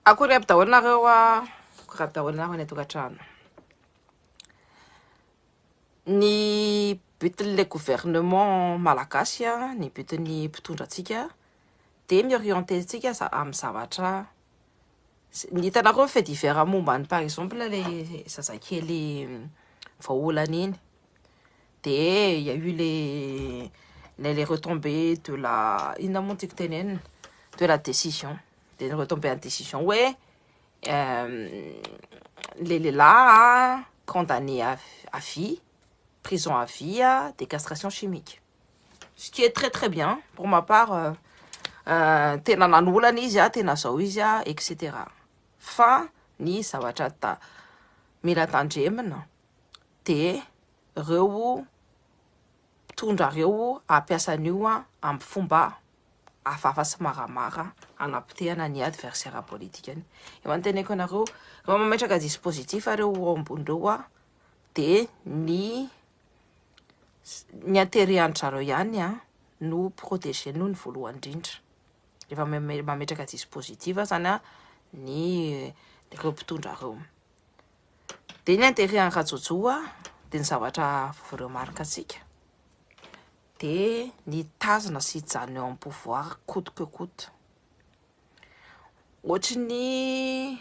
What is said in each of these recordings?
Akory aby daholo nareo a. Akory aby daholo nareo any atokatrano. Ny butin'ilay gouvernement malagasy a, ny butin'ny mpitondra antsika dia mi-orienter antsika za- amin'ny zavatra s- ny hitanareo ny fait divers momba ny par exemple ilay zazakely voaolana iny. Dia il y a eu les les les retombées de la inona moa ny tiako tenenina? De la décision. de ny retomber ny décision hoe le lehilahy condamné à vie prison à vie de castration chimique ce qui est très très bien pour ma part euh, euh, tena nanolana izy a tena zao izy a etc fa ny zavatra ta mila tandremina de reo Tondrareo hampiasa an'io amin'ny fomba hafahafa sy maramara hanapotehana ny adversaire politikany. Efa noteneniko anareo, rehefa mametraka dispositif reo eo ambony reo a, de ny ny intérêt an-dry zareo ihany a no proteger-nony voalohany indrindra. Rehefa mametraka dispositif zany a ny reo mpitondra reo. Dia ny andevian'i Rajojo dia ny zavatra voremarque antsika dia ny tazona sy hijanona eo amin'ny pouvoir coûte que coûte. Ohatry ny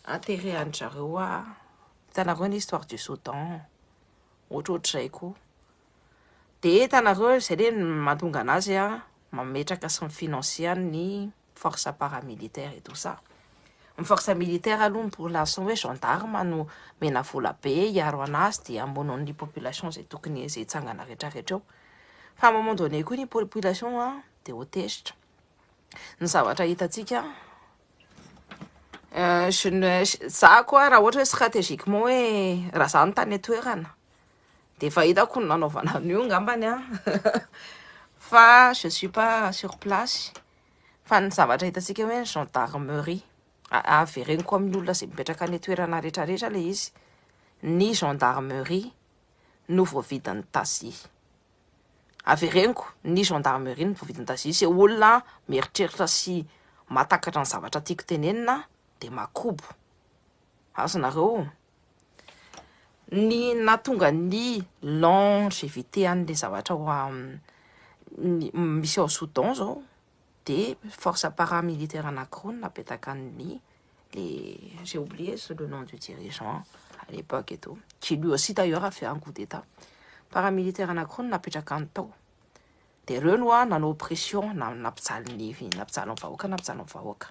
intérêt an'ny zareo a. Hitanareo ny histoire du Soudan, ohatrohatr'izay koa. Dia hitanareo izay dia mahatonga anazy mametraka sy mifinansier ny. force paramilitaire et tout ça. Ny force militaire aloha ny pour l'instant hoe gendarme no mena vola be hiaro anazy dia hamono ny population izay tokony izay hitsangana rehetra rehetra eo. Fa à un moment donné koa ny population a dia ho tezitra. Ny zavatra hitantsika euh, je ne za koa raha ohatra hoe stratégiquement hoe raha za no tany an-toerana dia efa hitako ny nanaovana an'io ngambany a fa je suis pas sur place. Fa ny zavatra hitantsika hoe ny gendarmerie, avereniko amin'ny olona izay mipetraka any an-toerana rehetra rehetra ilay izy, ny gendarmerie no voavidin'ny taxi. Avereniko, ny gendarmerie no voavidin'ny taxi, izay olona mieritreritra sy mahatakatra ny zavatra tiako tenenina aho dia makobo. Azonareo? Ny nahatonga ny longevité an'ilay zavatra ao amin'ny misy ao Soudan izao dia force paramilitaire anankiroa no napetaka an'ny le j'ai oublié le nom du dirigeant à l'époque et tout qui lui aussi d'ailleurs a fait un coup d'état paramilitaire anankiroa no napetraka any tao dia ireo no nanao pression na nampijaly ny nampijaly ny vahoaka nampijaly ny vahoaka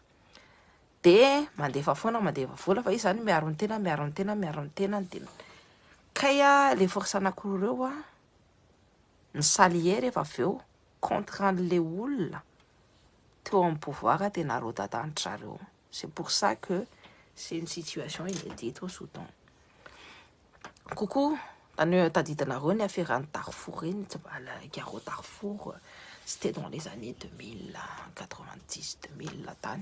Dia mandefa foana mandefa vola fa izy izany miaro ny tenany miaro ny tenany miaro ny tenany dia kay a le force anankiroa ireo a ny salier rehefa avy eo contre an'le olona teo amin'ny pouvoir dia narodadan-dry zareo c'est pour ça que c'est une situation inédite au Soudan coucou tany tadidinareo ny aferan'ny Darfour iny tsy mba la guerre au Darfour c'était dans les années 2090 2000 tany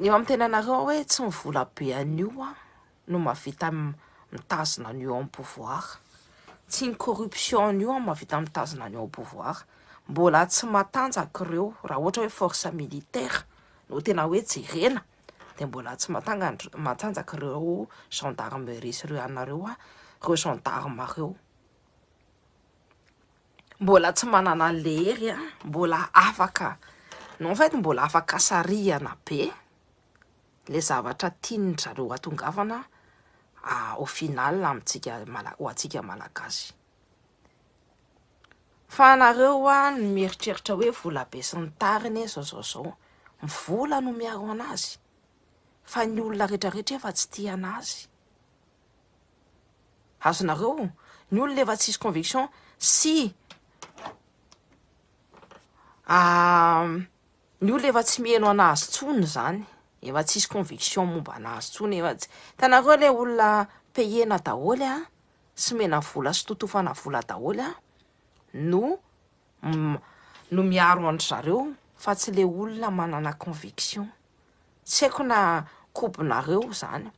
Ny eo amin'ny tenanareo hoe tsy ny vola be an'io no mahavita mitazona an'io ao amin'ny pouvoir. Tsy ny corruption an'io no mahavita mitazona an'io ao amin'ny pouvoir. Mbola tsy matanjaka ireo, raha ohatra hoe force militaire no tena hoe jerena dia mbola tsy mahatanga- matanjaka ireo gendarmerie sy ireo anareo, ireo gendarmes ireo. Mbola tsy manana lery a, mbola afaka, non en fait mbola afaka sarihana be le zavatra tian-dry zareo hatongavana au final amintsika mala- ho antsika Malagasy. Fa anareo ho'a ny mieritreritra hoe vola be sy ny tariny zao zao zao, ny vola no miaro an'azy fa ny olona rehetra rehetra efa tsy tia an'azy. Azonareo ny olona efa tsisy conviction sy ny olona efa tsy miheno an'azy intsony izany, efa tsisy conviction momba an'azy intsony, efa tsy, hitanareo ilay olona payena daholo sy omena vola sy totofana vola daholo no. no miaro an-dry zareo fa tsy le olona manana conviction. Tsy haiko na kobonareo zany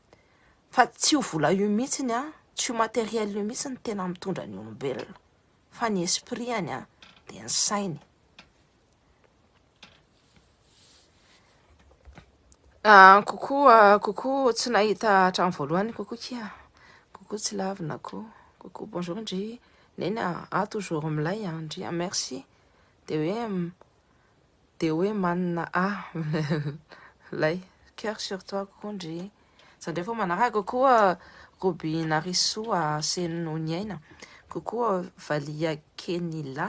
fa tsy io vola io mihitsiny an, tsy io matériel io mihitsy ny tena mitondra ny olombelona fa ny esprit any an dia ny sainy. Ah, coucou, ah, coucou, tsy nahita hatramin'ny voalohany, coucou kia, coucou tsy lavina ko, coucou, bonjour ndry, neny ah, ah toujours milay ah, ndry ah, merci, de hoe, mm, de hoe manina ah, milay, cœur sur toi, coucou ndry, za ndray vao manaraka, coucou ah, Robinarisoa Senoniaina, coucou ah, Valia Kenila,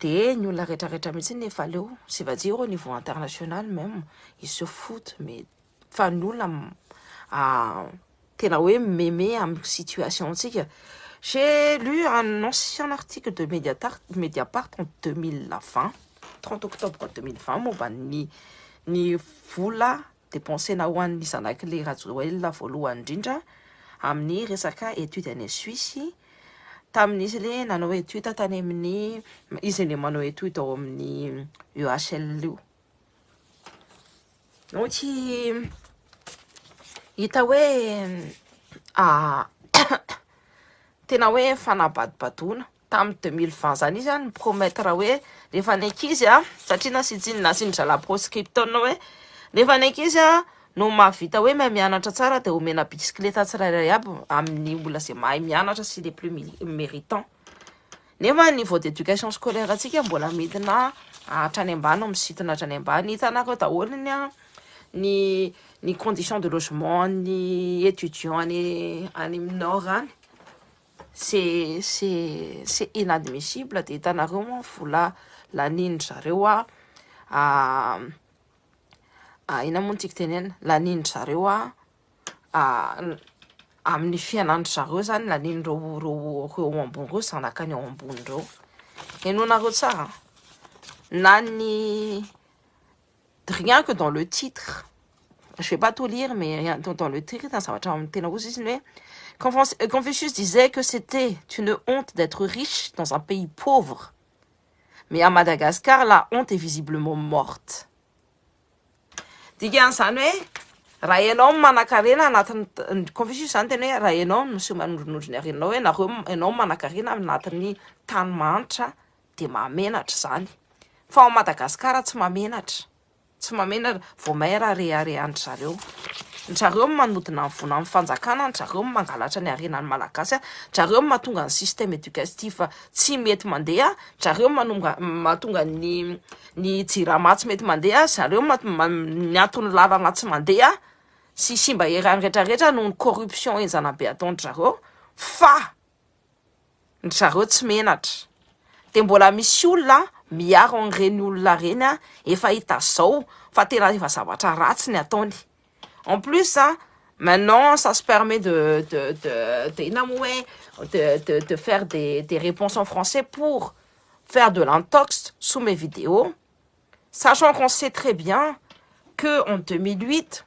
de ny olona rehetra rehetra mihitsy ny efa leo c'est va dire au niveau international même ils se foutent mais fa ny olona ah, tena hoe meme amin'ny situation antsika j'ai lu un ancien article de Mediapart, Mediapart en 2020 30 octobre 2020 momba ny ny vola depensena ho an'ny zanak'ilay Rajoelina voalohany indrindra amin'ny resaka étude any Suisse tamin'ny izy ilay nanao étude tany amin'ny izy ilay manao étude ao amin'ny EHL io donc hita hoe ah, tena hoe fanabadobadoana tamin'ny deux mille vingt zany izy an mi-promettre hoe rehefa ny ankizy an satria nasiantsiny nasian'ny zalahy proscripton hoe rehefa ny ankizy an no mahavita hoe mahay mianatra tsara dia omena bicyclette tsirairay aby amin'ny olona izay mahay mianatra sy les plus méritants nefa ny niveau d'éducation scolaire antsika mbola midina hatrany ambany misintona hatrany ambany hitanareo hoe daholo ny an ny ny condition de logement ny étudiant any any amin'ny nord any C'est c'est c'est inadmissible de hitanareo moa ny vola lanian'ny zareo a inona moa ny tiako tenenina lanian'ny zareo a amin'ny fiainan'ny zareo zany lanian'ireo reo reo ambony reo zanakany ao ambony reo henoanareo tsara na ny Rien que dans le titre, je vais pas tout lire mais rien dans dans le titre zavatra tena ozy izy ny hoe Confucius, euh, Confucius disait que c'était une honte d'être riche dans un pays pauvre mais à Madagascar la honte est visiblement morte. Dikan'izany hoe raha ianao no manankarena anatin'ny Confucius izany tena hoe raha ianao no miseho manondronondro ny harenanao hoe nareo ianao no manankarena anatin'ny tany mahantra dia mahamenatra izany. Fa ao Madagasikara tsy mahamenatra. Tsy mahamenatra. Vao maire reharehan-dry zareo. Dry zareo no manodina ny vola amin'ny fanjakana, dry zareo no mangalatra ny harenan'ny Malagasy, dry zareo no mahatonga ny système éducatif tsy mety mandeha, dry zareo no mahatonga ny ny jirama tsy mety mandeha, dry zareo no miato ny lalana tsy mandeha sy simba eran'ny rehetrarehetra noho ny corruption henjana be ataon-dry zareo. Fa Ry zareo tsy menatra. Dia mbola misy olona miaro an'ireny olona ireny efa hita zao fa tena efa zavatra ratsy ny ataony. En plus, maintenant ça se permet de de de de inona moa hoe de de de faire des des réponses en français pour faire de l'intox sous mes vidéos. Sachant qu'on sait très bien que en 2008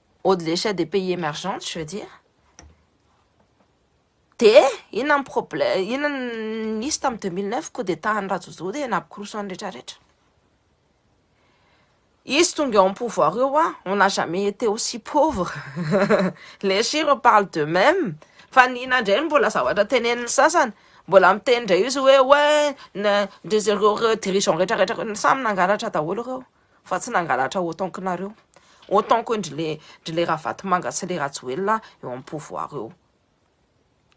au de l'échelle des pays émergentes je veux dire de inona ny problème inona ny nisy tamin'ny deux mille neuf coup d'état an'i Rajojo dia nampikoroso an'ny rehetra rehetra izy tonga eo amin'ny pouvoir eo ah on n'a jamais été aussi pauvre les chiffres parlent de même fa ny inona indray no mbola zavatra tenenin'ny sasany mbola miteny indray izy hoe ouais na de zareo dirigeants rehetra rehetra samy nangalatra daholo ireo fa tsy nangalatra autant que nareo autant que ndry le ndry le ravatomanga sy le rajoelina eo amin'ny pouvoir eo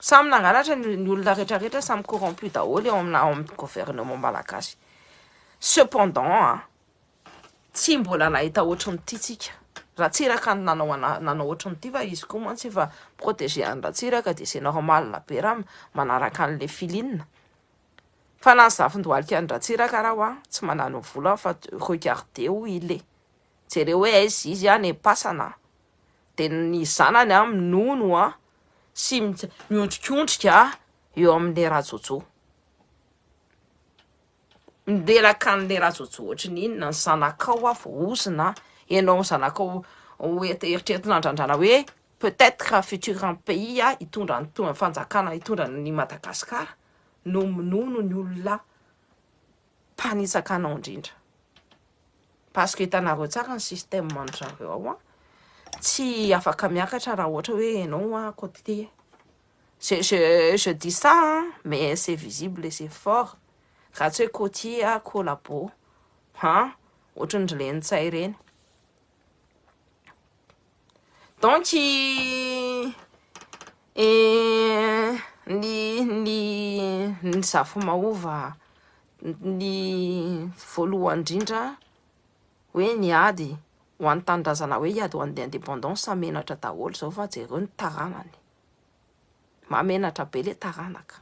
samy nangalatra ny olona rehetra rehetra samy corrompu daholo eo amina ao amin'ny gouvernement malagasy cependant a tsy mbola nahita ohatry ny ity tsika ratsiraka ny nanao nanao ohatry ny ity fa izy koa mantsy efa protéger an'i ratsiraka dia c'est normal be raha manaraka an'le filine Fa na ny zafin-dohalika any Ratsiraka ara wa tsy manano vola fa regardez où il est. Jereo hoe aiza izy any am-pasana an! Dia ny zanany an minono an sy miondrikondrika eo amin'ilay Rajojo. Mirelaka an'ilay Rajojo ohatry ny inona ny zanakao wa vao ozona an! Ianao zanakao eritreretina andrandrana hoe peut-être futur pays hitondra ny Fanjakana hitondra an'i Madagasikara. no minono ny olona mpanitsaka anao indrindra parce que hitanareo tsara ny système an zareo ao an tsy afaka miakatra raha ohatra hoe ianao an côté je, je, je dis ça hein, mais c'est visible et c'est fort raha tsy hoe côtier a collabo ha ohatran'ny ry lenintsahy ireny Donc ny ny ny zafy mahova ny voalohany indrindra hoe ny ady ho an'ny tanindrazana hoe hiady ho an'ny indépendance samy menatra daholo izao fa jereo ny taranany, mahamenatra be ilay taranaka,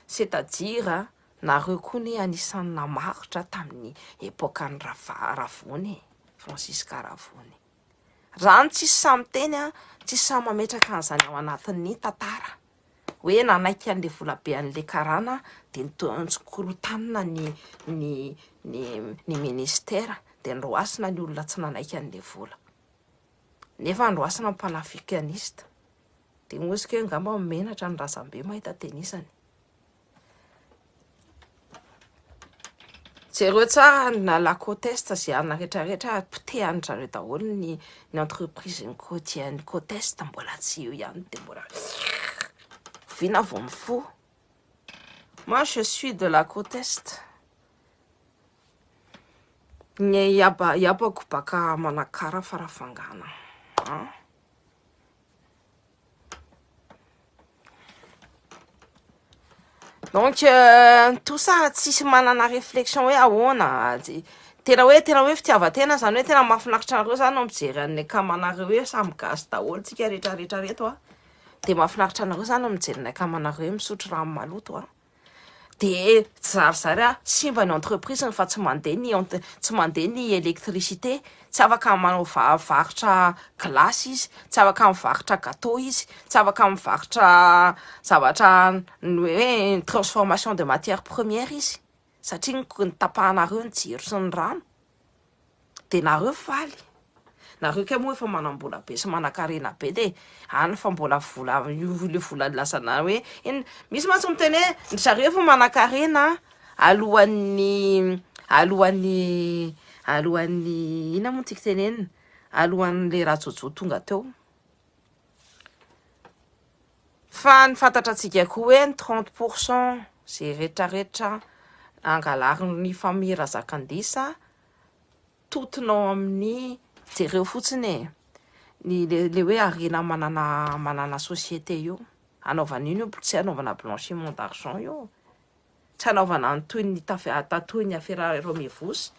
c'est à dire nareo koa anie anisan'ny namaritra tamin'ny epokan'i Rava- Ravony e, Francisca Ravony e. Raha ny tsisy sahy miteny, tsisy sahy mametraka an'izany ao anatin'ny tantara hoe nanaiky an'ilay volabe an'ilay karana dia nitsonkorotanina ny ny ny ny ministera dia noroasina ny olona tsy nanaiky an'ilay vola nefa noroasina ny panafricaniste dia hoy izy keo angamba menatra ny razambe mahita tenisany Jereo tsara na la côte est sy arina rehetra rehetra ary potehany zareo daholo ny ny entreprise ny côtier ny côte est mbola tsy eo ihany dia mbola oviana aho vao mifoha moi je suis de la côte est ny haba habako baka manakara farafangana an Donc, euh, tout ça, tsisy manana réflexion hoe ahoana, tena hoe tena hoe fitiavan-tena zany hoe tena mahafinaritra anareo zany no mijery an'ny akamanareo hoe samy gasy daholo tsika rehetra rehetra reto a. Dia mahafinaritra anareo zany no mijery ny akamanareo hoe misotro rano maloto a. dia zarizary ah, simba ny entreprise-ny fa tsy mandeha ny ent, tsy mandeha ny électricité, tsy afaka manao va, varotra glace izy, tsy afaka mivarotra gateau izy, tsy afaka mivarotra zavatra ny hoe transformation de matière première izy satria ny, ny tapahanareo ny jiro sy ny rano. Dia nareo faly? Nareo kay moa efa manambola be sy manakarena be dia any fa mbola vola io ilay vola nilazanao hoe eny misy mantsy miteny hoe ndry zareo efa manakarena alohan'ny alohan'ny alohan'ny inona moa ny tiako tenenina alohan'ilay rajojo tonga teo Fa ny fantatrantsika koa hoe ny trente pour cent izay retraretra angalarin'ny famille Razakandisa totona ao amin'ny jereo fotsiny e, ny le le hoe harena manana manana société io, hanaovana ino io tsy hanaovana blanchiment d'argent io Tsanaovana ny toy ny tatoy ny afera Romevos.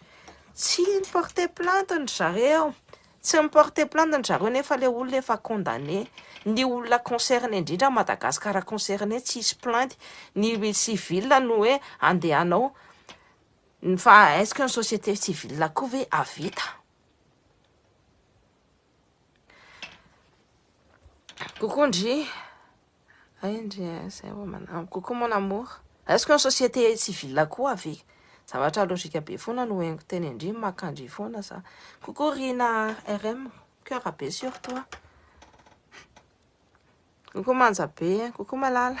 Tsy ni porter plainte ndry zareo. Tsy mi porter plainte ndry zareo nefa le olona efa condamne. Ny olona concerne indrindra Madagascar concerne tsy hisy plainte. Ny civil no hoe andehanao fa est-ce que ny société civile koa ve ahavita. Coucou Ndry. Ay Ndry, zay vao manam. Coucou mon amour. Est-ce que ny société civile koa ve? Zavatra logique be foana no henoko teny indry, maka ndry foana za. Coucou Rina RM, cœur be sur toi. Coucou Manja be, coucou Malala.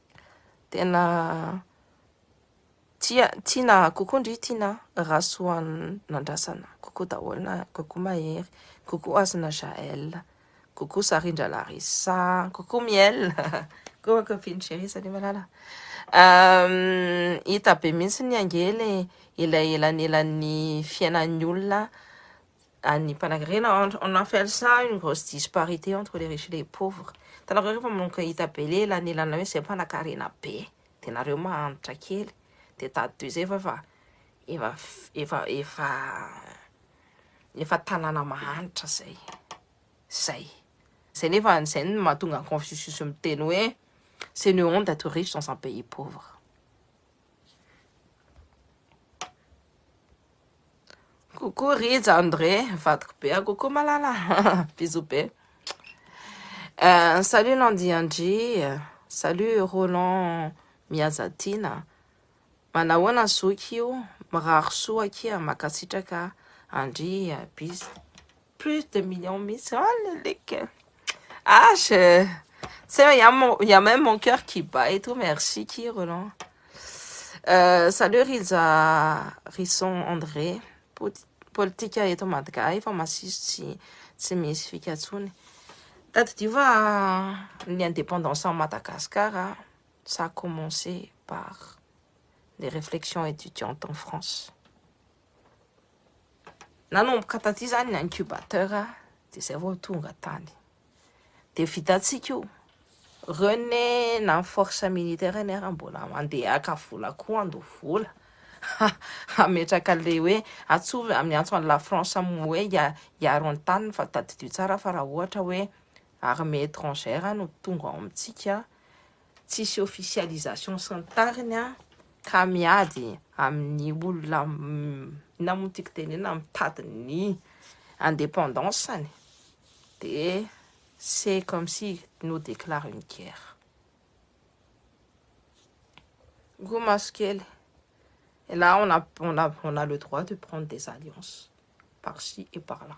Tena tia tiana kokoa ndry tiana Rasoanandrasana, kokoa daholo, kokoa Mahery, kokoa Hasina Jaël, kokoa Sarindra Larissa, kokoa Miel, kokoa copine chérie, salut malala. Um, hita be mihitsy ny ange le elanelan'ny fiainan'ny olona an'ny mpanakarena on a fait ça une grosse disparité entre les riches et les pauvres hitanareo rehefa manomboka hita be le lanelana hoe zay mpanakarena be de nareo mahantra kely de tady toy izay fa efa efa efa efa efa tanàna mahantra zay zay zay nefa an'izay ny mahatonga confucius miteny hoe c'est une honte d'être riche dans un pays pauvre Coucou Rija André, vadiko be. Ah, coucou Malala. Bisous be. Euh, salut Landy Andry. Salut Roland Miazatina. Manahoana zoky io? Mirary soa akia. Makasitraka Andry. Bisous. plus de millions mihitsy ah le like e ah je tsy hay a mon il y a même mon cœur qui bat et tout merci ki Roland euh, salut Rija Rison André Poti- politika eto Madga efa masiso tsy tsy misy fika intsony tadidio fa ny indépendance en Madagascar a, ça a commencé par les réflexions étudiantes en France Nanomboka taty izany ny incubateur dia izay vao tonga tany. Dia vitantsika io. Rene na ny force militaire anie raha mbola mandeha haka vola koa andoha vola. Hametraka le hoe atsovy amin'ny antso an'i la France amin'ny hoe hiaro ny taniny fa tadidio tsara fa raha ohatra hoe armée étrangère no tonga ao amintsika Tsisy officialisation sy ny tariny an! Ka miady amin'ny olona inona moa ny tiako tenenina mitady ny indépendance-ny dia c'est comme si nous déclare une guerre. Roa maso kely. Et là on a, on a, on a le droit de prendre des alliances par ci et par là.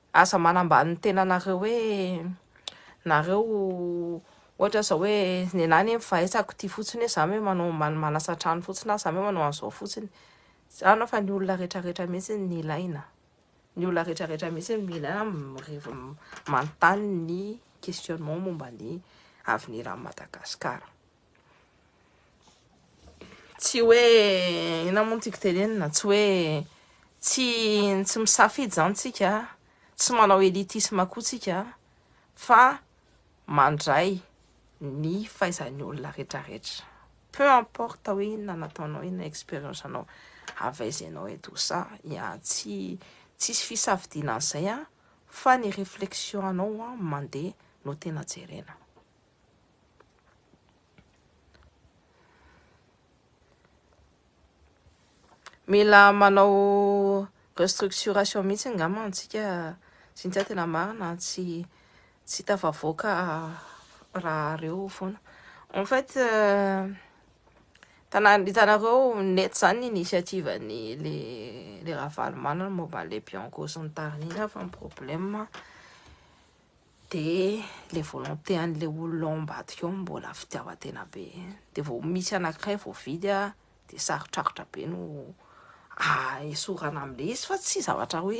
Aza manambany ny tenanareo hoe nareo ohatra zao hoe nenah anie mifahaizako ty fotsiny hoe za me manao manasa trano fotsiny na za me manao an'izao fotsiny zany fa ny olona rehetra rehetra mihitsy ny ilaina ny olona rehetra rehetra mihitsy ny ilaina mirevy manontany ny questionnement momba ny avenir an'i Madagasikara Tsy hoe inona moa no tiako tenenina, tsy hoe tsy tsy misafidy izany tsika, tsy manao elitisme koa tsika fa mandray ny faizan'ny olona rehetrarehetra. Peu importe hoe inona nataonao, inona expérience anao avy aiza ianao et tout ça, ya tsy tsisy fisafidiana an'izay fa ny réflexion anao mandeha no tena jerena. Mila manao restructuration mihitsy angamba antsika Cynthia tena marina tsy tsy tafavoaka raha reo foana en fait euh, hitanareo net zany ny initiative ny le le Ravalomanana momba le Bianco sy ny tariny iny fa ny problème Dia ilay volonté an'ilay olona ao ambadika ao mbola fitiavan-tena be. Dia vao misy anankiray voavidy dia sarotrarotra be no aesorana amin'ilay izy fa tsy zavatra hoe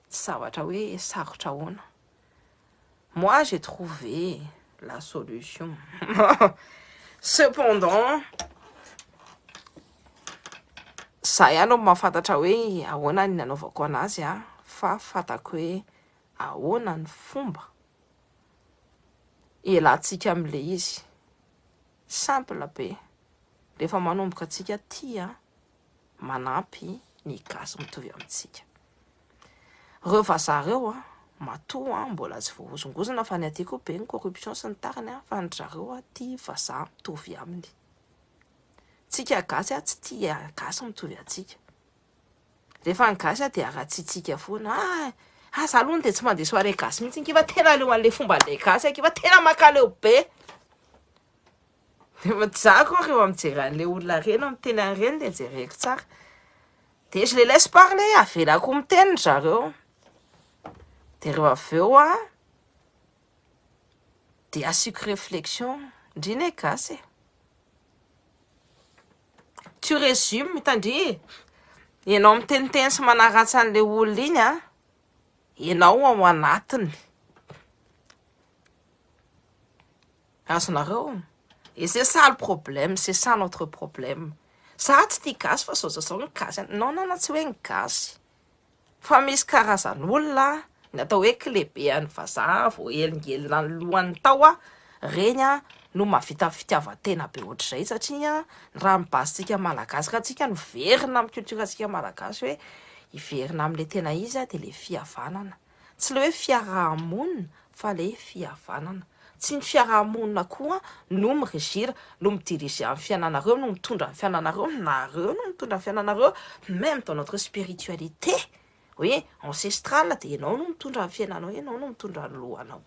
tsy zavatra hoe sarotra ahoana. Moi j'ai trouvé la solution. Cependant, za ihany no mahafantatra hoe ahoana ny nanaovako an'azy fa fantako hoe Ahoana ny fomba hialantsika amin'ilay izy? Simple be, rehefa manomboka antsika tia, manampy ny gasy mitovy amintsika. Ireo vazaha ireo matoa mbola tsy voahozongozona fa ny aty koa be ny corruption sy ny tariny fa ny drareo tia vazaha mitovy aminy. Tsika gasy tsy tia gasy mitovy antsika. Rehefa ny gasy a dia ratsitsika foana, ah ah za aloha dia tsy mandeha soirée gasy mihitsy ngy fa tena aleo an'le fomban'le gasy aky fa tena mankaleo be, rehefa za koa rehefa mijery an'le olona reny aho miteny an'ireny dia jereko tsara, de je les laisse parler, avelako miteny ry zareo, de rehefa avy eo a, dia asiako réflexion, ndry ne gasy e. Tu resumes mitandria e! Ianao miteniteny sy manaratsy an'ilay olona iny an! Ianao ao anatiny! Azonareo? Et c'est ça le problème, c'est ça notre problème. Za tsy tia gasy fa zao zao zao ny gasy an! Non non non tsy hoe ny gasy. Fa misy karazan'olona ny atao hoe kilebean'ny vazaha voahelingelina ny lohany tao a! reny a! no mahavita fitiavan-tena be ohatr'izay satria ny raha ny base-tsika malagasy ka tsika no verina amin'ny culture-tsika malagasy hoe hiverina amin'ilay tena izy dia ilay fihavanana. Tsy ilay hoe fiaraha-monina fa ilay fihavanana. Tsy ny fiaraha-monina koa no mi-regir, no mi-diriger ny fiainanareo, no mitondra ny fiainanareo, nareo no mitondra ny fiainanareo, meme dans notre spiritualité hoe ancestrale dia ianao no mitondra ny fiainanao, ianao no mitondra ny lohanao.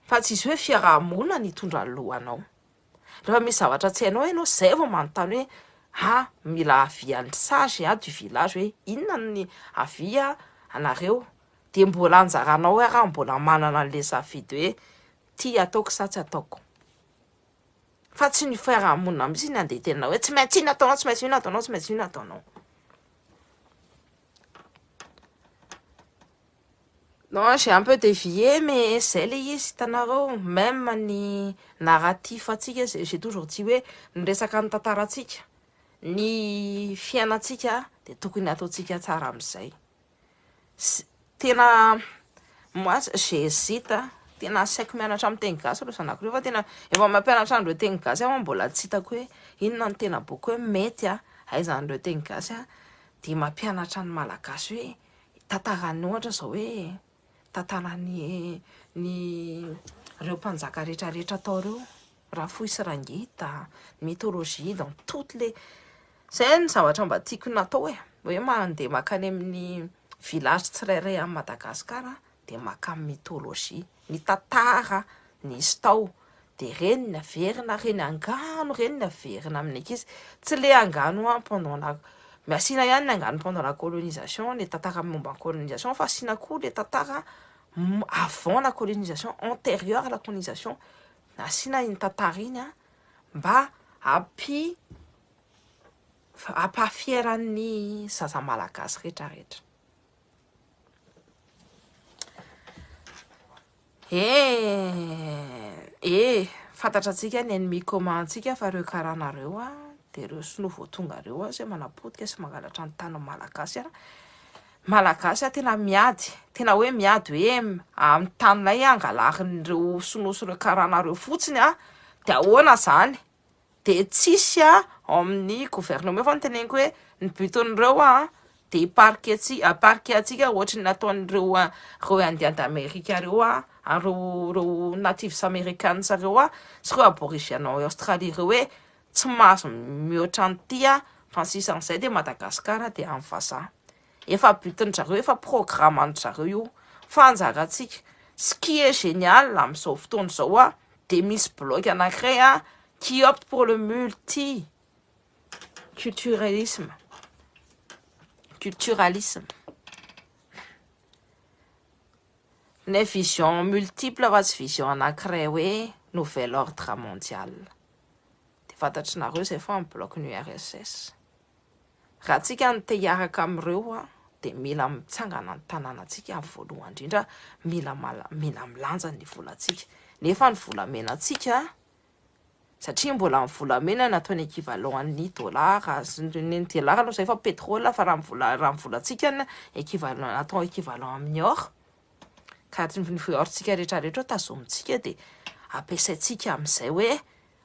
Fa tsy izy hoe fiaraha-monina no hitondra ny lohanao. Rehefa misy zavatra tsy hainao ianao izay vao manontany hoe a mila avis an'ny sage a du village hoe inona ny avis a anareo dia mbola anjaranao hoe raha mbola manana an'ilay safidy hoe ity ataoko sa tsy ataoko fa tsy ny fiarahamonina mihitsy ny andeha tena hoe tsy maintsy inona ataonao tsy maintsy inona ataonao tsy maintsy inona ataonao Non j'ai un peu dévié mais zay le izy hitanareo meme ny narratif antsika j'ai toujours dit hoe ny resaka ny tantarantsika ny fiainantsika dia tokony ataontsika tsara amin'izay tena moi j'hésite tena asaiko mianatra amin'ny teny gasy ireo zanako ireo fa tena efa mampianatra an'ireo teny gasy aho mbola tsy hitako hoe inona ny tena boky hoe mety a haizan'ireo teny gasy a dia mampianatra ny malagasy hoe tantarany ohatra zao hoe tantarany ny reo mpanjaka rehetra rehetra tao reo rafohy sy rangita mythologie dans toutes les zay ny zavatra mba tiako natao e hoe mandeha makany amin'ny village tsirairay any Madagascar dia makany mythologie, mitantara nisy tao, dia ireny ny averina ary ny angano ireny ny averina amin'ny ankizy, tsy le angano an pendant la, asiana ihany ny angano pendant la colonisation, ny tantara momba ny colonisation fa asiana koa le tantara avant la colonisation, anterieur à la colonisation, asiana iny tantara iny an mba hampi hampahafiera ny zaza malagasy retraretra. Eh, eh, fantatra antsika ny ennemi commun antsika fa reo karana reo a, de reo sinoa vao tonga reo a, zay manapotika sy mangalatra ny tanin'ny malagasy a, malagasy a tena miady, tena hoe miady hoe amin'ny taninay angalarin'ireo sinoa sy reo karana reo fotsiny a, de ahoana zany? dia tsisy ao amin'ny gouvernement eo fa ny teneniko hoe ny buton'ireo an dia hiparike antsika hiparike antsika ohatry ny nataon'ireo ireo indiens d'Amerique ireo an ary ireo natives americains ireo an sy ireo aborigènes ao Australie ireo hoe tsy mahazo mihoatra an'ity an fa ny sisa an'izay dia Madagascar dia an'ny vazaha Efa but-ndry zareo, efa programme-ndry zareo io, fa anjarantsika, ce qui est génial amin'izao fotoana izao an, dia misy bloc anankiray an, qui opte pour le multi culturalisme, culturalisme, ny vision multiple fa tsy vision anankiray hoe nouvel ordre mondial, dia fantatr'nareo izay fa ny bloc-n'ny URSS. Raha tsika no te hiaraka amin'ireo dia mila mitsangana ny tananantsika voalohany indrindra, mila mila milanja ny volantsika. Nefa ny volamenantsika, satria mbola ny volamena no atao ny equivalent ny dollar, ny dollar aloha izay efa petrole fa raha ny vola raha ny volantsika ny equivalent atao equivalent amin'ny or ka ny or-tsika rehetra rehetra tazomintsika dia ampiasaintsika amin'izay hoe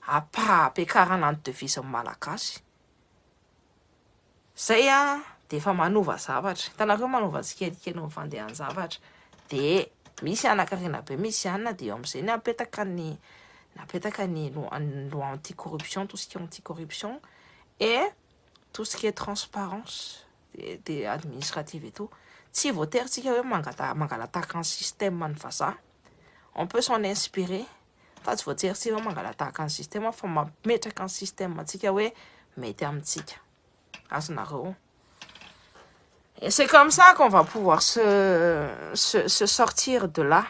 ampiakarana ny devise ny malagasy. Zay a de efa manova zavatra hitanareo manova tsikelikely ny fandehan'ny zavatra de misy hanakarena be misy anina de eo amin'izay ny apetaka ny napetaka ny loi anti corruption tout ce qui est anti corruption et tout ce qui est transparence de de administrative et tout tsy voatery tsika hoe mangata mangalataka ny système ny vazaha on peut s'en inspirer fa tsy voatery tsy ianao mangalatahaka ny système fa mametraka ny système antsika hoe mety amintsika azonareo et c'est comme ça qu'on va pouvoir se, se, se sortir de là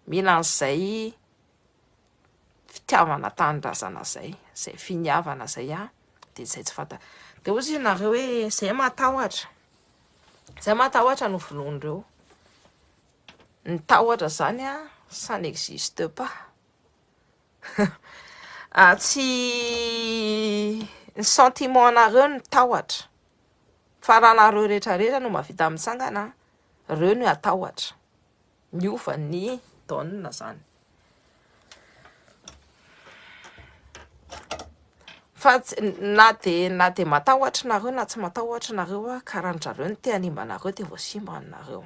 mila an'izay fitiavana tanindrazana zay zay finiavana zay a dia zay tsy fanta dia ozy ianareo hoe zay matahotra zay matahotra no vonoan'ireo Ny tahotra zany an, ça n'existe pas. Tsy ny sentiment nareo no tahotra, fa raha nareo rehetra rehetra no mavita mitsangana, reo no atahotra. Miova ny donne zany. Fa na dia na dia matahotra nareo na tsy matahotra nareo an, ka raha ny zareo no te hanimba anareo dia voasimba anareo.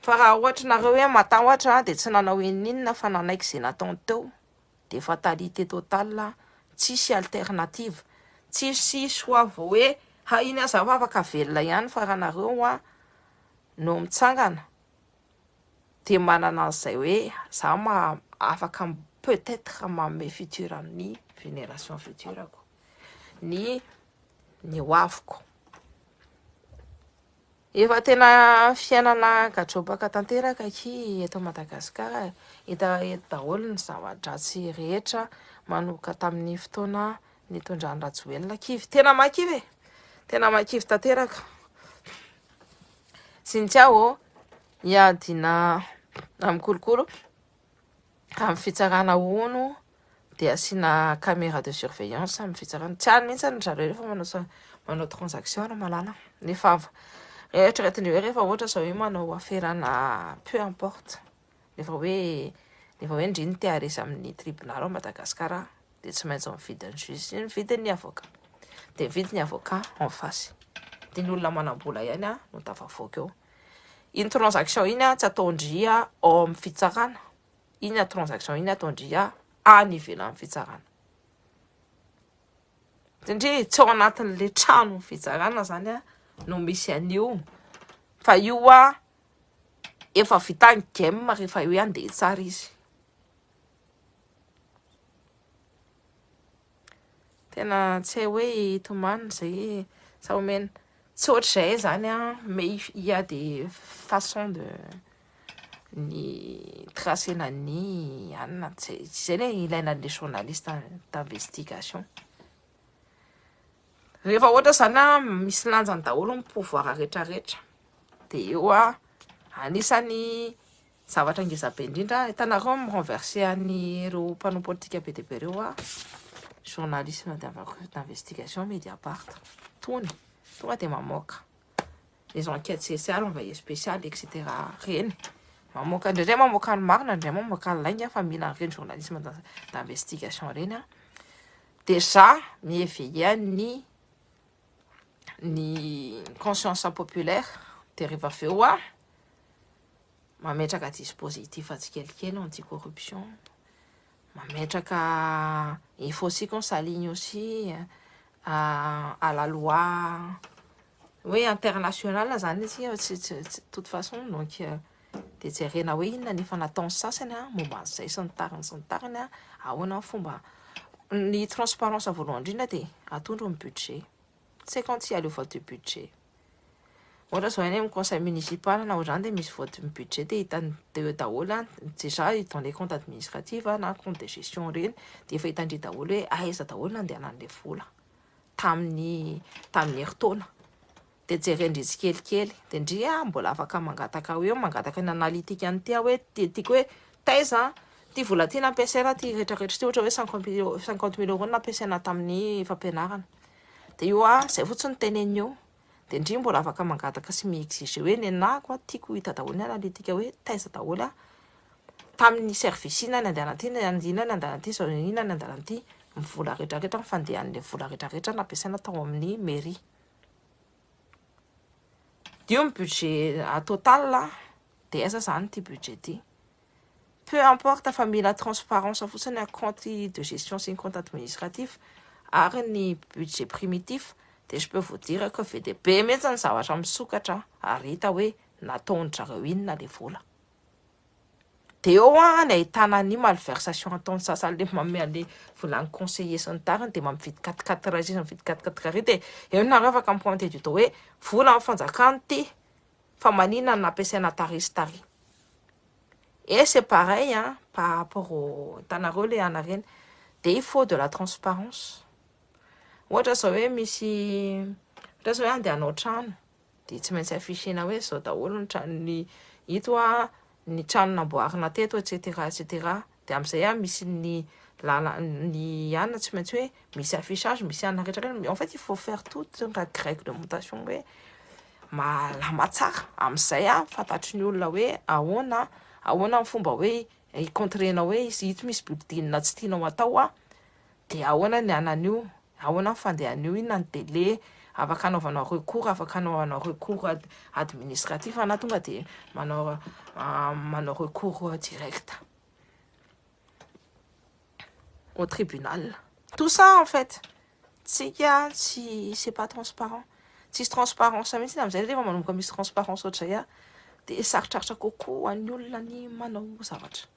Fa raha ohatry nareo hoe matahotra aho dia tsy nanao ininona fa nanaiky izay nataony teo dia fatalité totale tsisy alternative tsisy choix vao hoe hay iny aza aho afaka velona ihany fa raha nareo an no mitsangana dia manana an'izay hoe za afaka peut etre manome futur amin'ny génération future ko ny ny hoaviko Efa tena fiainana gadrobaka tanteraka aky eto Madagascar eh. Hita eto daholo ny zava-dratsy rehetra manomboka tamin'ny fotoana nitondran'i Rajoelina kivy. Tena mahakivy eh. Tena mahakivy tanteraka. Cynthia ô, hiadina amin'ny kolokolo. Amin'ny fitsarana hono dia asiana caméra de surveillance amin'ny fitsarana. Tsy any mihitsy any zareo rehefa manao manao transaction ry malala. Nefa eritreretin'ireo hoe rehefa ohatra zao hoe manao aferana peu importe. Rehefa hoe rehefa hoe ndry ny te haresa amin'ny tribunal ao Madagasikara. dia tsy maintsy mividy ny juge sy ny vidin'ny avocat dia mividy ny avocat en face dia ny olona manam-bola ihany a no tafavoaka eo iny transaction iny a tsy ataondria ao amin'ny fitsarana iny a transaction iny ataondria any ivelan'ny fitsarana satria tsy ao anatin'le trano fitsarana zany a no misy an'io fa io a efa vita ny game rehefa eo ihany dia tsara izy Tena tsy hay hoe hitomany izay sa omena. Tsy ohatr'izay izany an, mais il y a des façons de ny tracena ny anina. Tsy izay anie ilaina an'ilay journaliste d'investigation. Rehefa ohatra izany an, misy lanjany daholo ny pouvoir rehetrarehetra. Dia eo an, anisany Zavatra ngezabe indrindra ah. Hitanareo mi renverser an'i ireo mpanao politika be dia be ireo ah. Journalisme d'investigation Mediapart. Tony. Tonga dia mamoaka les enquêtes spéciales, envoyé spécial etc. Reny. Mamoaka indraindray mamoaka ny marina, indraindray mamoaka ny lainga fa mila an'ireny journalisme d'investigation ireny ah. Déjà mi éveiller an'i ny conscience populaire dia rehefa avy eo ah. mametraka dispositif tsikelikely anti corruption, mametraka il faut aussi qu'on s'aligne aussi à la loi hoe internationale zany itsika fa tsy tsy tsy toute façon donc dia jerena hoe inona ny efa nataon'ny sasany a momba an'izay sy ny tariny sy ny tariny a ahoana ny fomba ny transparence voalohany indrindra dia atondro ny budget c'est quand il y a le vote du budget Ohatra zao any amin'ny conseil municipal na ohatr'izany dia misy vote ny budget dia hitan'ny dia eo daholo an, déjà dans les comptes administratifs na comptes de gestion ireny dia efa hitan-dry daholo hoe aiza daholo no nandehanan'ilay vola tamin'ny tamin'ny herintaona. Dia jeren-dry tsikelikely dia ndry a mbola afaka mangataka eo mangataka ny analytique an'ity aho hoe ti- tiako hoe taiza ity vola ity nampiasaina ity retraretra ity ohatra hoe cinquante mille euros cinquante mille euros no nampiasaina tamin'ny fampianarana. Dia io a, izay fotsiny no teneniny eo. Dia ndry mbola afaka mangataka sy mi-exiger hoe nenako a, tiako hita daholo ny analytique hoe taiza daholo aho. Tamin'ny service inona ny andehanan'ity, inona ny andehanan'ity, izao inona ny andehanan'ity. Ny vola rehetra rehetra, ny fandehan'ilay vola rehetra rehetra nampiasaina tao amin'ny mairie. Io ny budget total a, dia aiza izany ity budget ity? Peu importe fa mila transparence fotsiny ny compte de gestion sy ny compte administratif ary ny budget primitif dia je peux vous dire que be dia be mihintsy ny zavatra misokatra ary hita hoe nataon-dry zareo inona ilay vola. Dia eo an, ny ahitana an'io malversation ataon'ny sasany le manome an'le vola an'ny conseiller sy ny tariny dia mampy vide quatre quatre ray sisa mividy quatre quatre ray dia eo nareo afaka mi pointer du doigt hoe volan'ny fanjakana ity fa manina no nampiasaina tary sy tary. Et c'est pareil hein, par rapport au hitanareo le ana reny dia il faut de la transparence. Ohatra zao hoe misy ohatra zao hoe andeha hanao trano dia tsy maintsy afficher-na hoe izao daholo ny tranon'ny ito a, ny trano namboarina teto etc etc dia amin'izay a misy ny lala ny an tsy maintsy hoe misy affichage misy an rehetra rehetra en fait il faut faire toute la règle de montation hoe malama tsara amin'izay a fantatry ny olona hoe ahoana ahoana ny fomba hoe hi-contrer-na hoe izy ito misy building tsy tianao atao a dia ahoana ny anan'io, ahoana ny fandehan'io, inona ny délai afaka anaovanao recours, afaka anaovanao recours administratif na tonga dia manao manao recours direct au tribunal. Tout ça en fait, tsika tsy c'est pas transparent. Tsisy transparence mihitsy amin'izay rehefa manomboka misy transparence ohatr'izay dia sarotrarotra kokoa ho an'ny olona ny manao zavatra.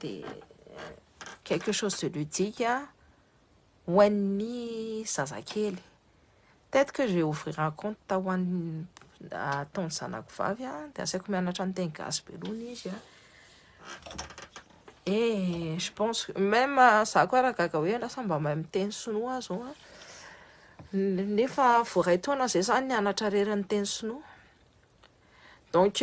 dia quelque chose de ludique ho an'ny zazakely peut-être que je ouvrir un compte ho an'ny ataon'ny zanako vavy dia asaiko mianatra ny teny gasy be aloha izy a et je pense que même za koa raha gaga hoe lasa mba mahay miteny sinoa aho zao nefa vao iray taona izay za nianatra irery ny teny sinoa donc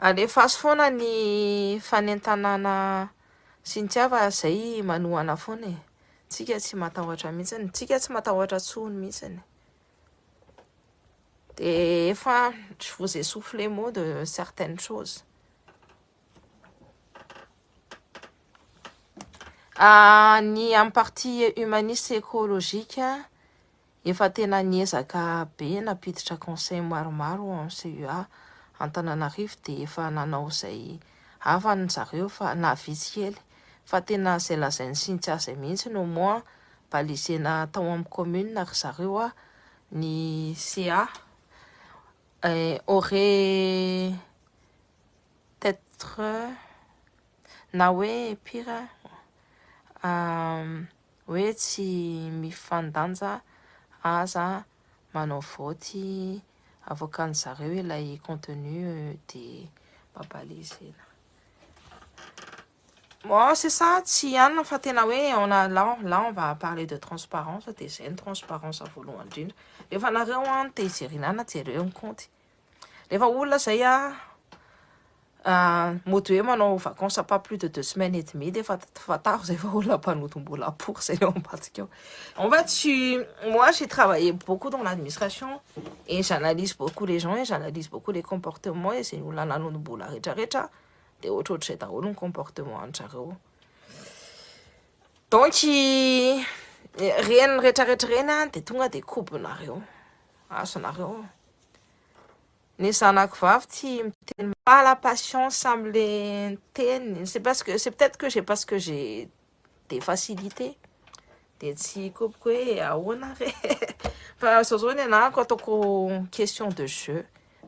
Alefaso foana ny fanentanana sy ny tsy hafa izay manohana foana e. Tsika tsy matahotra mihitsy, tsika tsy matahotra intsony mihitsy. De efa je vous ai soufflé mot de certaines choses. Ah, ny amin'ny partie humaniste écologique, Efa tena niezaka be nampiditra conseil maromaro ao amin'ny CUA Antananarivo dia efa nanao izay havany zareo fa na vitsy kely fa tena izay lazain'i Cynthia izay mihitsy no moa balisena tao amin'ny commune ry zareo a ny CA aurait etre na hoe pire a Hoe tsy mifandanja aza manao vaoty avoakan zareo ilay contenu de babale zena. Bon c'est ça tsy ihany fa tena hoe on a là là on va parler de transparence de zay ny transparence voalohany indrindra. Rehefa nareo an te hijerena ana jereo ny kaonty. Rehefa olona izay mody hoe manao vacances pas plus de deux semaines et demie dia efa fantaro izay fa olona mpanodim-bola apory izay eo ambadika eo. En fait, tu... moi j'ai travaillé beaucoup dans l'administration et j'analyse beaucoup les gens et j'analyse beaucoup les comportements et izay olona nanodim-bola rehetrarehetra dia ohatrohatr'izay daholo ny comportement an-jareo. Donc, ireny rehetrarehetra ireny dia tonga dia kobonareo. azonareo ny zanako vavy tsy miteny pas la patience amle teny c'est parce que c'est peut-être que j'ai parce que j'ai des facilités dia tsy kopiko hoe ahoana re fa zao zao ny anako ataoko question de jeu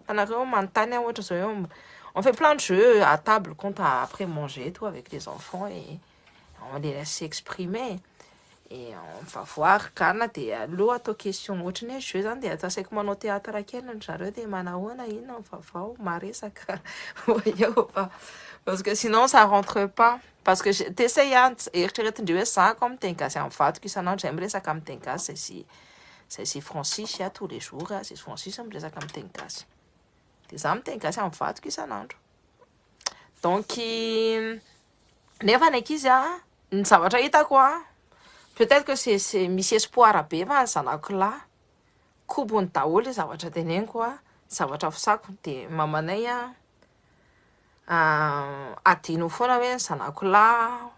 anareo manontany aho ohatra zao hoe on fait plein de jeux à table compte après manger tout avec les enfants et on les laisse s'exprimer et on va voir Ghana de aleo atao question ohatrany hoe jeu zany de atao asaiko manao théâtre kely ry zareo de manahoana inona ny vaovao maresaka voyons va parce que sinon ça rentre pas parce que je t'essaye an eritreretin-dry hoe za ko amin'ny teny gasy amin'ny vadiko isan'andro zay miresaka amin'ny teny gasy zay sy zay sy francis a tous les jours a zay sy francis miresaka amin'ny teny gasy de za miteny gasy amin'ny vadiko isan'andro donc Nefa ny ankizy a, ny zavatra hitako a, peut être que c'est misy espoir be fa ny zanako lahy kobony daholo le zavatra teneniko a, zavatra fisako de mamanay a, adino foana hoe ny zanako lahy,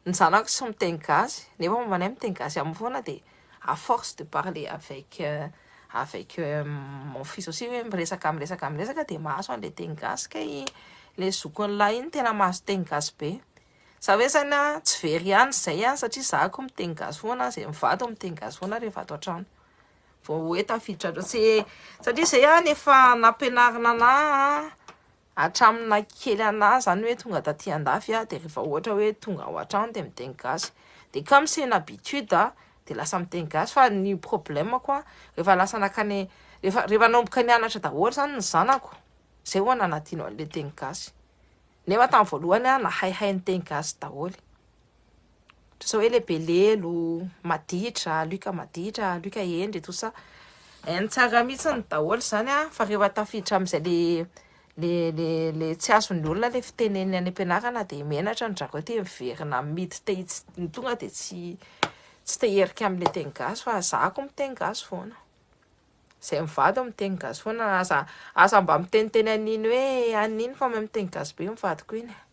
ny zanako tsy miteny gasy nefa mamanay miteny gasy aminy foana de à force de parler avec avec mon fils aussi hoe miresaka miresaka miresaka dia mahazo an'ilay teny gasy kay ilay zokiny lahy iny tena mahazo teny gasy be za hoe zany a tsy very ihany izay a satria za ko miteny gasy foana izay mivady miteny gasy foana rehefa ato an-trano vao hoe tafiditra loatra satria izay ihany efa nampianarina anah Hatramin'ny na kely anah zany hoe tonga taty andafy aho dia rehefa ohatra hoe tonga ao an-trano dia miteny gasy dia comme c'est une habitude aho dia lasa miteny gasy fa ny problème-ko an rehefa lasa nankany rehefa rehefa nanomboka nianatra daholo zany ny zanako zay vao nanadino an'ilay teny gasy nefa tamin'ny voalohany aho nahaihay niteny gasy daholo e. Ohatra izao hoe le Belelo, Maditra, Luc Maditra, Luc Hendry, tout ça. Hainy tsara mihitsy ny daholo izany a, fa rehefa tafiditra amin'izay le le le le tsy azon'ny olona le fiteneniny any am-pianarana dia menatra ny zareo te miverina mid te hits- ny tonga dia tsy tsy te hierika amin'ilay teny gasy fa zako miteny gasy foana. Izay mivady no miteny gasy foana, aza aza mba miteniteny an'iny hoe an'iny fa mahay miteny gasy be ny vadiko iny e.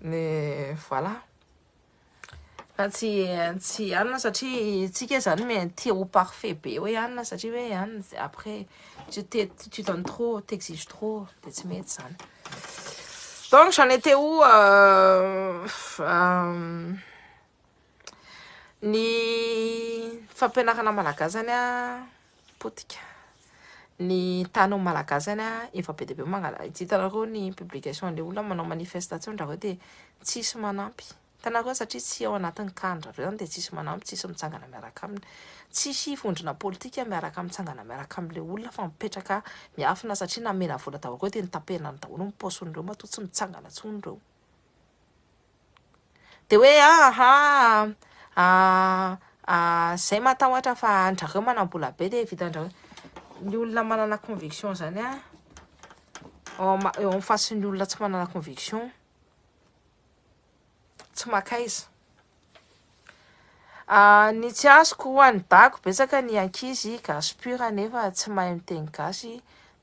ny voilà fa tsy tsy anona satria tsika zany me tia ho parfait be hoe anona satria hoe an après tu te tu donnes trop t'exige trop de tsy mety zany donc j'en étais où euh, euh, Ny fampianarana malagasy zany a potika. Ny tany amin'ny malagasy zany a efa be dia be mangala. Ity hitanareo ny publication le olona manao manifestation dra hoe dia tsisy manampy. Hitanareo satria tsy ao anatin'ny cas-ndrareo zany dia tsisy manampy, tsisy mitsangana miaraka aminy. Tsisy vondrona politika miaraka mitsangana miaraka am'le olona fa mipetraka miafina satria namena vola daholo reo dia notapehina daholo ny paosiny reo matoa tsy mitsangana tsony reo. Dia hoe ah ah ah ah zay matahotra fa andrareo manambola be dia vitandrareo. Ny olona manana conviction zany ah eo amin'ny face ny olona tsy manana conviction tsy makaiza. Ah, ny tsy azoko ho any dago betsaka ny ankizy gasy pur nefa tsy mahay miteny gasy.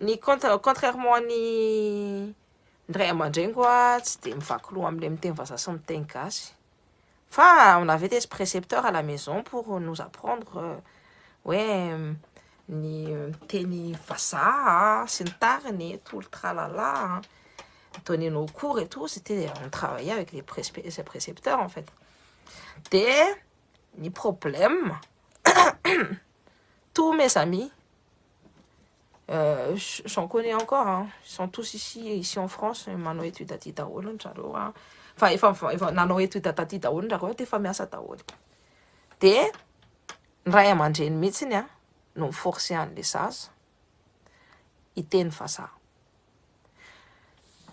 Ny contre contrairement an'ny ny ray aman-dreniko a tsy dia mivaky loha amin'ilay miteny vazaha sy miteny gasy fa on avait des précepteurs à la maison pour nous apprendre euh, hoe ny miteny vazaha sy ny tariny tout le tralala hein. donner nos cours et tout c'était on travaillait avec les pré- précepteurs en fait dia ny problème Tout mes amis, euh, j'en connais encore, hein. ils sont tous ici, ici en France, manao étude aty daholo ny zareo, fa efa efa nanao étude taty daholo ny zareo, efa miasa daholo. Dia ny ray aman-dreny mihitsy ny a, no mi-forcer an'le zaza hiteny vazaha.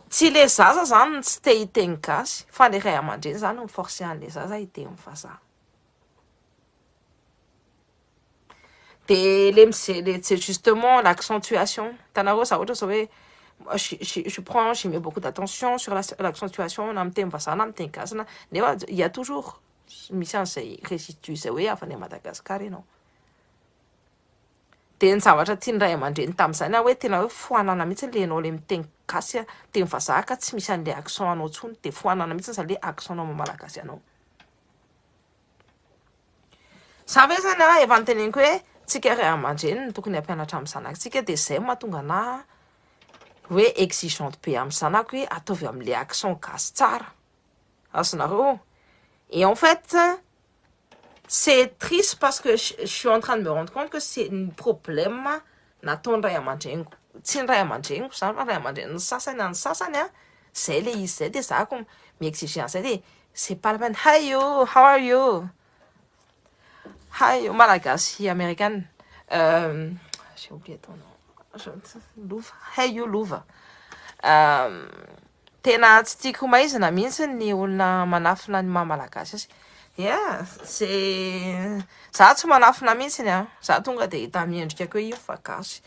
Tsy le zaza zany no tsy te hiteny gasy, fa le ray aman-dreny zany no mi-forcer an'le zaza hiteny vazaha. Dia le mize- le c'est justement l'accentuation. Hitanareo za ohatra zao hoe je je je prends je mets beaucoup d'attention sur la l'accentuation na amin'ny teny vazaha na amin'ny teny gasy na nefa il y a toujours misy an'izay résidus zay hoe avy any Madagascar ianao. Dia ny zavatra tian'ny ray aman-dreny tamin'izany hoe tena hoe foanana mihitsy ilay ianao ilay miteny gasy a teny vazaha ka tsy misy an'ilay accent anao intsony dia foanana mihitsy izany hoe accent anao maha malagasy anao. Za ve zany a efa noteneniko hoe tsika ray aman-dreny no tokony hampianatra amin'ny zanatsika dia zay mahatonga anaha hoe exigeante be amin'ny zanako hoe ataovy amin'ilay accent gasy tsara azonareo et en fait c'est triste parce que je suis en train de me rendre compte que c'est ny problème nataon'ny ray aman-dreniko, tsy ny ray aman-dreniko izany fa ny ray aman-drenin'ny sasany an'ny sasany an, izay ilay izy izay dia za ko mi-exiger an'izay dia c'est pas la peine, hi you, how are you, hi you, malagasy amerikana, j'ai oublié ton nom, lova, hi you lova, Tena tsy tiako maizina mihitsy ny olona manafina ny maha malagasy azy. Yeah, ze za tsy manafina mihitsy ny an. Za tonga dia hita miendrika koa io fa gasy.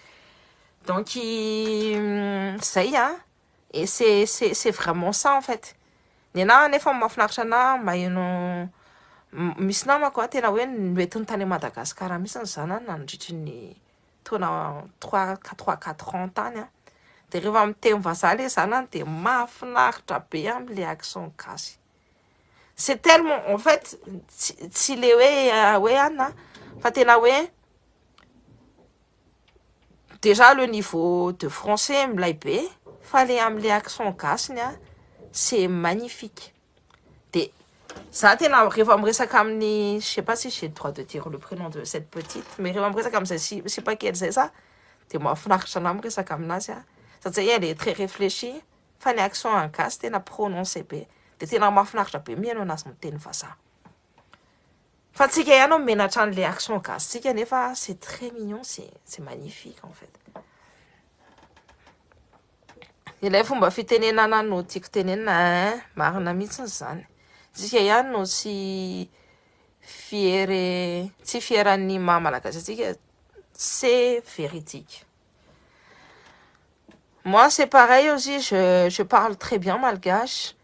Donc mm, zay an. Et c'est c'est c'est vraiment ça en fait. Ny anahy anefa mahafinaritra anahy maheno misy namako an tena hoe noentiny tany Madagascar mihitsy ny zanany nandritry ny taona trois ka trois quatre ans tany an, dia rehefa miteny vazaha ilay zanany dia mahafinaritra be amin'ilay accent gasy, c'est tellement en fait tsy tsy ilay hoe hoe an an fa tena hoe déjà le niveau de français milay be fa ilay amin'ilay accent gasy ny an c'est magnifique. Dia za tena rehefa miresaka amin'ny je sais pas si j'ai droit de dire le prénom de cette petite mais rehefa miresaka amin'izay si sipakely izay za dia mahafinaritra anah miresaka aminazy a satria elle est très réfléchie fa ny accent any gasy tena prononcé be dia tena mahafinaritra be mihaino anazy miteny vazaha fa tsika ihany no menatra an'le accent gasy tsika nefa c'est très mignon c'est c'est magnifique en fait Ilay fomba fitenenana no tiako tenenina eh. Marina mihitsy izany. Tsika ihany no tsy fiere tsy fieran'ny maha malagasy antsika. C'est véridique. Moi c'est pareil aussi, je, je parle très bien malgache.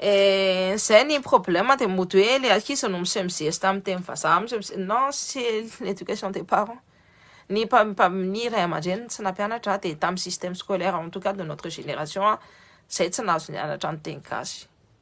Eh, zay ny problème de mody hoe le ankizy no miseho mizesta amin'ny teny vazaha, miseho mize- non c'est l'éducation des parents, ny mpa- mpa- ny ray aman-dreniny tsy nampianatra dia tamin'ny système scolaire en tout cas de notre génération zay tsy nahazo nianatra ny teny gasy.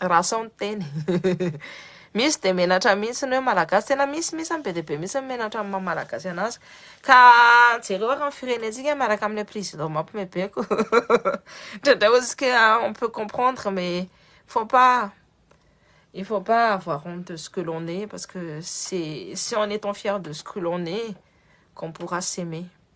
Raha sao ny teny. Misy dia menatra mihitsy ny hoe malagasy, tena misy misy be dia be mihitsy ny menatra amin'ny maha malagasy anazy. Ka jereo ary ny firenentsika miaraka amin'ilay président mampimebeko. Indraindray ohatsika on peut comprendre mais faut pas il faut pas avoir honte de ce que l'on est parce que c'est c'est en étant fier de ce que l'on est qu'on pourra s'aimer.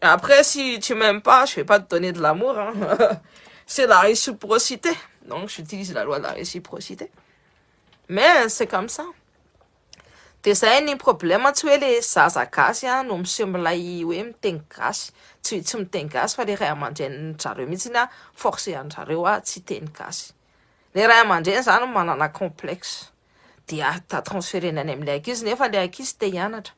Après si tu m'aimes pas, je vais pas te donner de l'amour hein. C'est la réciprocité. Donc j'utilise la loi de la réciprocité. Mais c'est comme ça. Dia zay ny problème tsy hoe le zaza gasy a no miseho milay hoe miteny gasy. Tsy tsy miteny gasy fa le ray aman-drenin zareo mihitsy a force an zareo a tsy hiteny gasy. Le ray aman-dreny zany manana complexe. Dia transférena any amin'ilay ankizy nefa le ankizy te hianatra.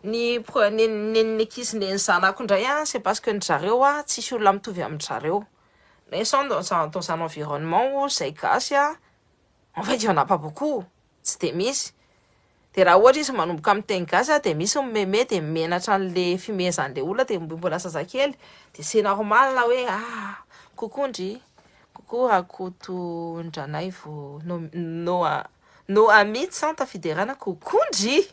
Ny pro neny neny ny ankizy neny zanako ndray a c'est parce que ndry zareo a tsisy olona mitovy amindry zareo mais sans dans un dans un environnement où zay gasy a en fait il y'en a pas beaucoup tsy de misy de raha ohatra izy manomboka miteny gasy a de misy mimeme de mimenatra anle fimehezanle olona de mbo mbola zazakely de c'est normal hoe ah coucou ndry coucou Rakotondranaivo no no no amidy sans tafiderana coucou ndry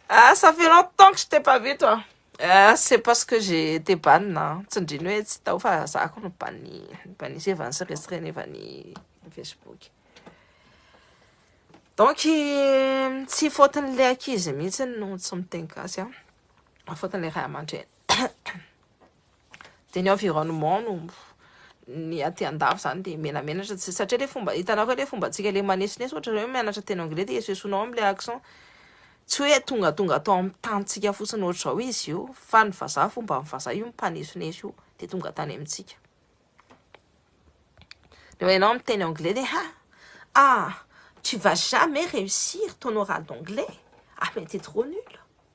ah ça fait longtemps que je t'ai pas vu toi ah c'est parce que j'ai été ban a tsindriny hoe tsy tao fa za ko no ban ban izy efa nisy restreint efa ny facebook donc tsy fautiny le akizy mihitsy no tsy miteny gasy a fautiny le ray aman-dreny Dia ny environnement no ny aty andafy izany dia menamenatra tsy satria ilay fomba hitanao ve ilay fombantsika ilay manesoneso ohatra hoe mianatra teny anglais dia esoesonao amin'ilay accent tsy hoe tongatonga atao amin'ny tanintsika fotsiny ohatr'izao izy io fa ny vazaha fomba amin'ny vazaha io mpanesoneso io dia tonga tany amintsika rehefa ianao amin'ny teny anglais dia ha ah tu vas jamais réussir ton oral d'anglais ah mais t'es trop nul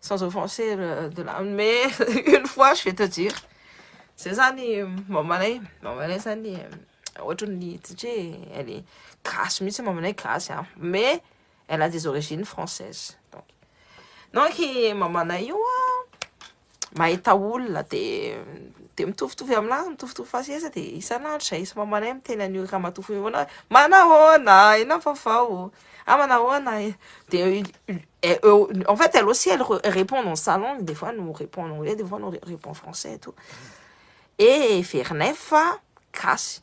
sans offenser euh, de la mais une fois je vais te dire zay zany mamanay mamanay zany euh, ohatran'ny satria elle est gasy mihitsy mamanay gasy a mais elle a des origines françaises donc donc mamanay io a mahita olona dia dia mitovitovy aminah mitovitovy faseheza dia isan'andro zay izy mamanay miteny an'io ramatoa fohy foana manahoana inona vaovao ah manahoana eh. dia eo en fait elle aussi elle répond dans sa langue des fois nous répond en anglais des fois nous répond en français et tout et verinay fa gasy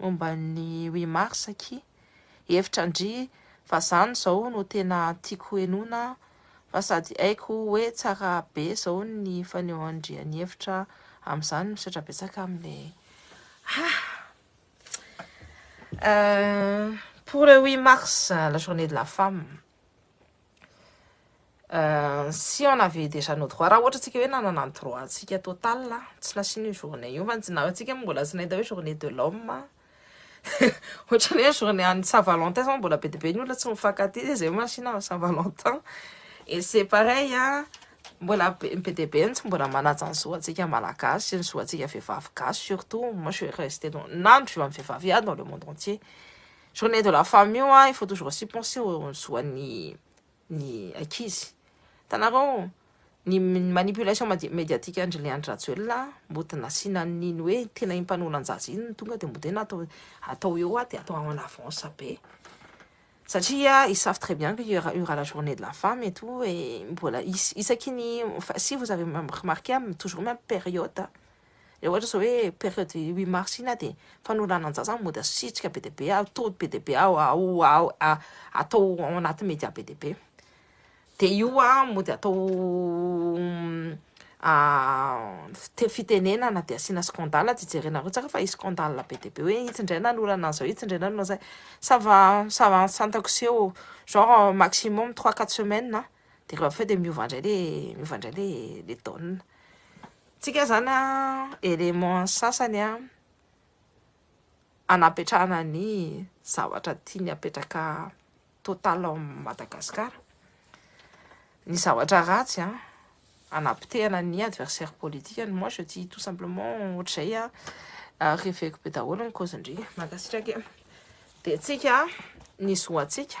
Momba ny huit mars akia, hevitra ndry fa zany zao no tena tiako henoina fa sady haiko hoe tsara be zao ny fanehoandria ny hevitra amzany misaotra betsaka amle ah pour le huit mars la journée de la femme Si on avait déjà nos droits, raha ohatra tsika hoe nanana ny droit tsika total a, tsy nasian'io journée io, fa na tsika moa mbola tsy nahita hoe journée de l'homme a, ohatra ny hoe journée an'ny saint valentin zao mbola be de be ny olona tsy mifankatia de zay masina amin'ny saint valentin, et c'est pareil a, mbola be be de be ny tsy mbola manaja ny zo antsika malagasy, ny zo antsika vehivavy gasy surtout, moi je suis restée dans, na ny zo an'ny vehivavy iaby dans le monde entier. Journée de la femme io an, il faut toujours aussi penser au zo an'ny ny ankizy. Hitanareo ny manipulation médiatique an-dry Leandry Rajoelina an, mody nasiana an'iny hoe tena iny mpanolan-jaza iny no tonga dia mody hoe natao atao eo an dia atao en avance be. Satria ils savent très bien qu'il y aura, il y aura la journée de la femme et tout et mbola is- isaky ny enfin, si vous avez même remarqué am- toujours même période Rehefa ohatra izao hoe période huit mars iny dia fanolananjaza no mody asitrika be dia be, atody be dia be atao ao anaty media be dia be. Dia io mody atao fitenenana dia asiana scandale dia jerenareo tsara fa hisy scandale be dia be hoe itsy indray nanolana an'izao, itsy indray nanolana an'izay. Ça va, ça va santako sy eo, genre maximum trois quatre semaines dia rehefa avy eo dia miova indray ilay, miova indray ilay donne. Tsika zany a élément sasany a anapetrahana ny zavatra tiany apetraka total ao Madagascar ny zavatra ratsy a anapotehana ny adversaire politique ny moi je dis tout simplement ohatr'izay a reveko be daholo ny cause ndry mankasitraka e dia tsika ny zoantsika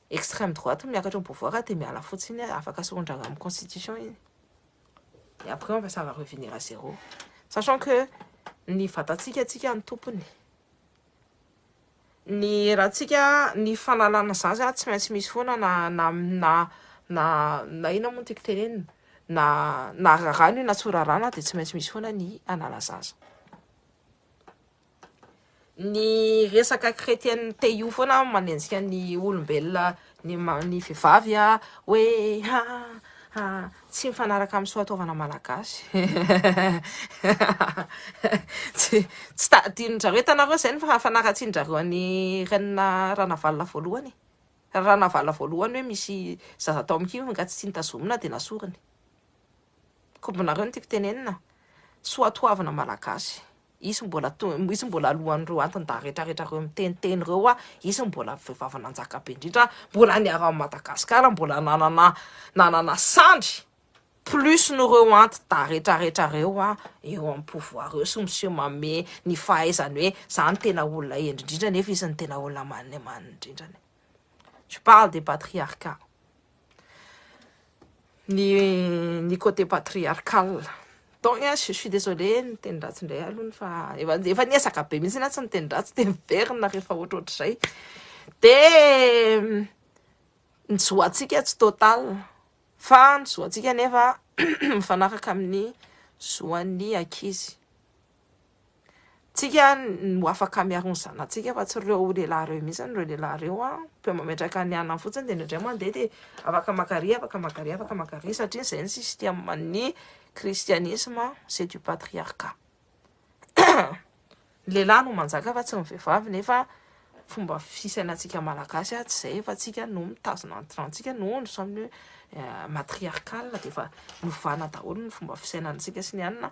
Extreme droite miakatra au pouvoir de miala fotsiny a afaka soron-dragna amin'ny constitution iny et après on va ça va revenir à zéro sachant que ny vatantsika tsika ny tompony ny erantsika ny fanalana zany zany tsy maintsy misy foana na na na na na ina moa tiako tenenina na na rarano na tsy rarana de tsy maintsy misy foana ny anala zaza Ny resaka chrétienne te io foana manenjika ny olombelona ny ny vehivavy a hoe ha ha tsy mifanaraka amin'ny soa taovana malagasy tsy tsy ta adinonjareo hitanareo zay ny fanaratsianjareo any renina ranavalona voalohany e ranavalona voalohany hoe misy zaza tao amkiviny ka tsy nitazomina de nasoriny kombinareo ny tiako tenenina soa toavina malagasy hisy mbola hisy mbola alohan'ireo antin-dahy retraretra ireo miteniteny ireo hoa hisy mbola vehivavy nanjaka be indrindra mbola niaro an'i Madagasikara mbola nanana nanana sandry plus n'ireo anti-dahy retraretra ireo hoa eo amin'ny pouvoir eo sy miseho manome ny fahaizany hoe za no tena olona hendry indrindra nefa izy no tena olona maneman indrindrany je parle des patriarcats ny ny côté patriarcal donc a je suis désolé miteny ratsy indray alony fa efa efa niezaka be mihitsy na tsy miteny ratsy de miverina rehefa ohatrohatr'izay de ny zoantsika tsy total fa ny zoantsika nefa mifanaraka amin'ny zoan'ny ankizy Tsika no afaka miaro ny zanatsika fa tsy ireo lehilahy ireo mihitsy ireo lehilahy ireo an mpe mametraka ny anany fotsiny dia indray mandeha dia afaka makary afaka makary afaka makary satria izay ny système ny christianisme c'est du patriarcat ny lehilahy no manjaka fa tsy ny vehivavy nefa fomba fisainantsika malagasy atsy izay fa tsika no mitazona ny trantsika no ny samy eh, matriarcal dia efa novana daholo ny fomba fisainantsika sy ny anina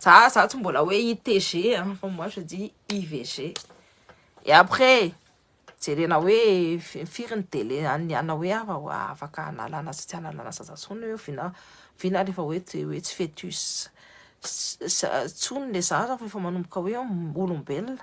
Za za tsy mbola hoe ITG hein, fa moi je dis IVG. Et après jerena hoe firy ny délai an'ny ana hoe afaka analana sy tsy analana zaza intsony hoe vina vina rehefa hoe hoe tsy fetus intsony le zaza fa efa manomboka hoe olombelona.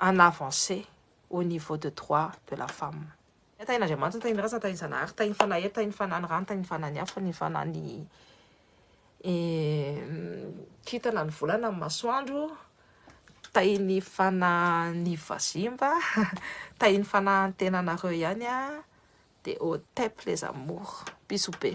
en avancée au niveau de droit de la femme. Ny tahin'Andriamanitra, ny tahin'ny razana, ny tahin'ny Zanahary, ny tahin'ny Fanahy, ny tahin'ny Fanahy ny rano, ny tahin'ny Fanahy ny afo, ny Fanahy ny kintana, ny volana, ny masoandro, tahin'ny Fanahy ny vazimba, tahin'ny Fanahy ny tenanareo ihany an, dia au tep les amours, bisous be.